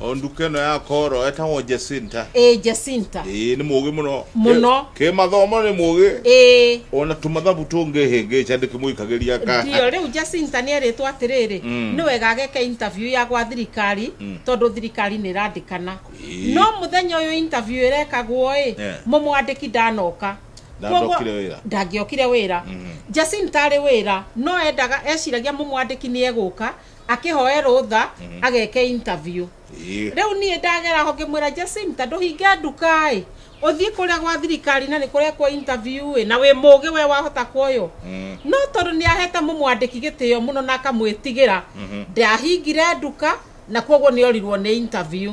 o nduka ĩno ya koro etagwo Jacinta ĩĩ Jacinta ĩĩ nĩ mũgĩ mũno Mũno. kä mathomo nĩ mũgĩ ĩĩ ona tå mathabu tå ngä hä ngä ca ndä kä må ikagä ria ndio rä u Jacinta nä erĩtwo atĩrĩrĩ Mm. nĩ wega ageke interview ya gwa thirikari tondũ thirikari nĩ ĩrandĩkana Ĩĩ. no mũthenya ũyũ interview ĩrekagwo ĩ Yeah. mũmwandĩki ndanoka Ndandokire Koguo- wĩra. ndangĩokire wĩra Jacinta arĩ wĩra no endaga eciragia mũmwandĩki nĩ egũka akĩhoe rũtha mhm. ageke interview rĩu niĩ ndagera ho ngĩmwĩra Jacinta ndũhinge nduka ĩ ũthiĩ kũrĩa gwa thirikari na nĩ kũrĩa kwa interview ĩ na wĩ mũgĩ we wahota kuoywo mm. no tondũ nĩ ahete mũmwandĩki gĩtĩo mũno na akamwĩtigĩra mhm. ndahingire nduka na koguo nĩ orirwo nĩ interview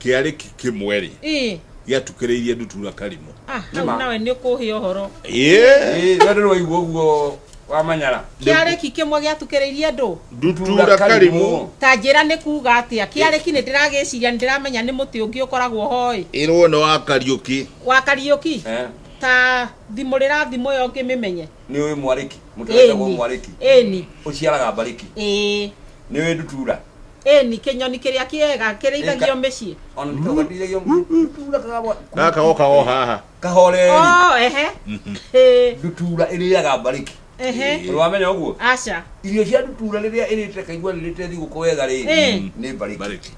kĩarĩki kĩmwe-rĩ Ĩ, gĩatukĩrĩirie ndutura karimũ ah, hau Nĩma. nawe nĩ kũhĩa ũhoro Yeah. Ĩĩ, rĩo ndĩrĩ waigua ũguo wa manyara kĩarĩki kĩmwe gĩatukĩrĩirie ndũ ndutura karimũ ta njĩra nĩ kuga atĩa kĩarĩki nĩ ndĩragĩciria nĩ ndĩramenya nĩ mũtĩ ũngĩ ũkoragwo hoĩ ĩrwo nĩ wa kariũki wa kariũki Eh, ta thimũrĩra thimũ ĩyo ngĩmĩmenye nĩ ũĩ mwarĩki mũtĩ wetagwo mwarĩki ĩni ũciaraga mbarĩki ĩĩ nĩ ũĩ ndutura Ĩni, kĩnyoni kĩrĩa kĩega kĩrĩithagio mĩciĩ. O na nĩkĩo gathiragia ndutura kagabwa- Gaka kagoka o haha. kahoreri Oh, ehe. Ĩ, ndutura ĩrĩaga mbarĩki ehe. Ũrĩ wamenya ũguo Aca. irio cia ndutura rĩrĩa ĩrĩte kaigua rĩrĩte thigũkũ wega rĩ Eh. nĩ mbarĩki Mbarĩki.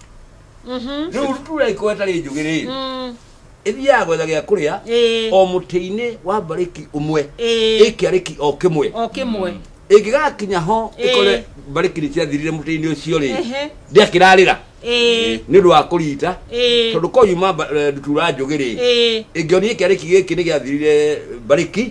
Mhm. rĩu ndutura ĩkorwo ĩtarĩ njũgĩ rĩ Mm. ithiaga gwetha gĩa kũrĩa Ĩĩ. o mũtĩ-inĩ wa mbarĩki ũmwe Ĩĩ. ĩkĩarĩki o kĩmwe o kĩmwe ĩngĩgakinya ho Ĩĩ. ĩkore mbarĩki nĩ ciathirire mũtĩ-inĩ ũcio rĩ Ehe. ndĩakĩrarĩra Ĩĩ. nĩ ũndũ wa kũrita Ĩĩ. tondũ ko yuma mba- eh, ndutura njũgĩ rĩ Ĩĩ. ĩngĩonire kĩarĩki gĩkĩ nĩ gĩathirire mbarĩki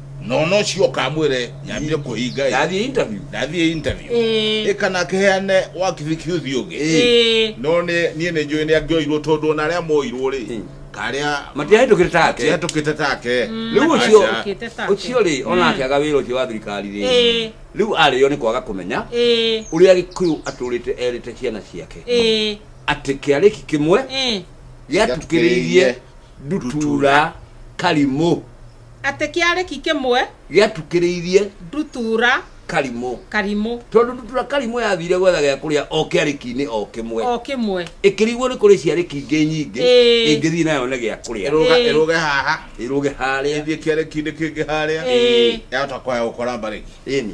nono ũcio ũkamwĩre nyambie kũhinga ĩ. ndathiĩ interview ndathiĩ interview Ĩĩ. ĩ kana kĩheane wakibikiuthi ũngĩ Ĩĩ. no nĩ- niĩ nĩ njũĩ nĩ angĩoirwo tondũ ona arĩa moirwo rĩ Ĩĩ. karĩa matihĩtũkĩte take tihatũkĩte take rĩu ũcio Aca. Ũkĩte take. ũcio rĩ ona akĩaga wĩra ũcio wa thirikari rĩ Ĩĩ. rĩu arĩo nĩ kwaga kũmenya Ĩĩ. ũrĩa gĩkũyũ atũrĩte erĩte ciana ciake Ĩĩ. atĩ kĩarĩki kĩmwe Ĩĩ. gĩatukĩrĩirie ndutura karimũ Atĩ kĩarĩki kĩmwe. Gĩatukĩrĩirie. Ndutura. Karimũ. Karimũ. Tondũ ndutura Karimũ yathire gwetha gĩa kũrĩa o kĩarĩki-inĩ o kĩmwe. O kĩmwe. Ĩkĩrigwo nĩ kũrĩ ciarĩki ingĩ nyingĩ. Ĩĩ. Ĩngĩthiĩ nayo yone gĩa kũrĩa. Ĩrũga, Ĩĩ. ĩrũge haha. Ĩrũge harĩa. Ĩthiĩ kĩarĩki-inĩ kĩngĩ harĩa. Ĩĩ. Yahota kwaya gũkora mbarĩki. Ĩni.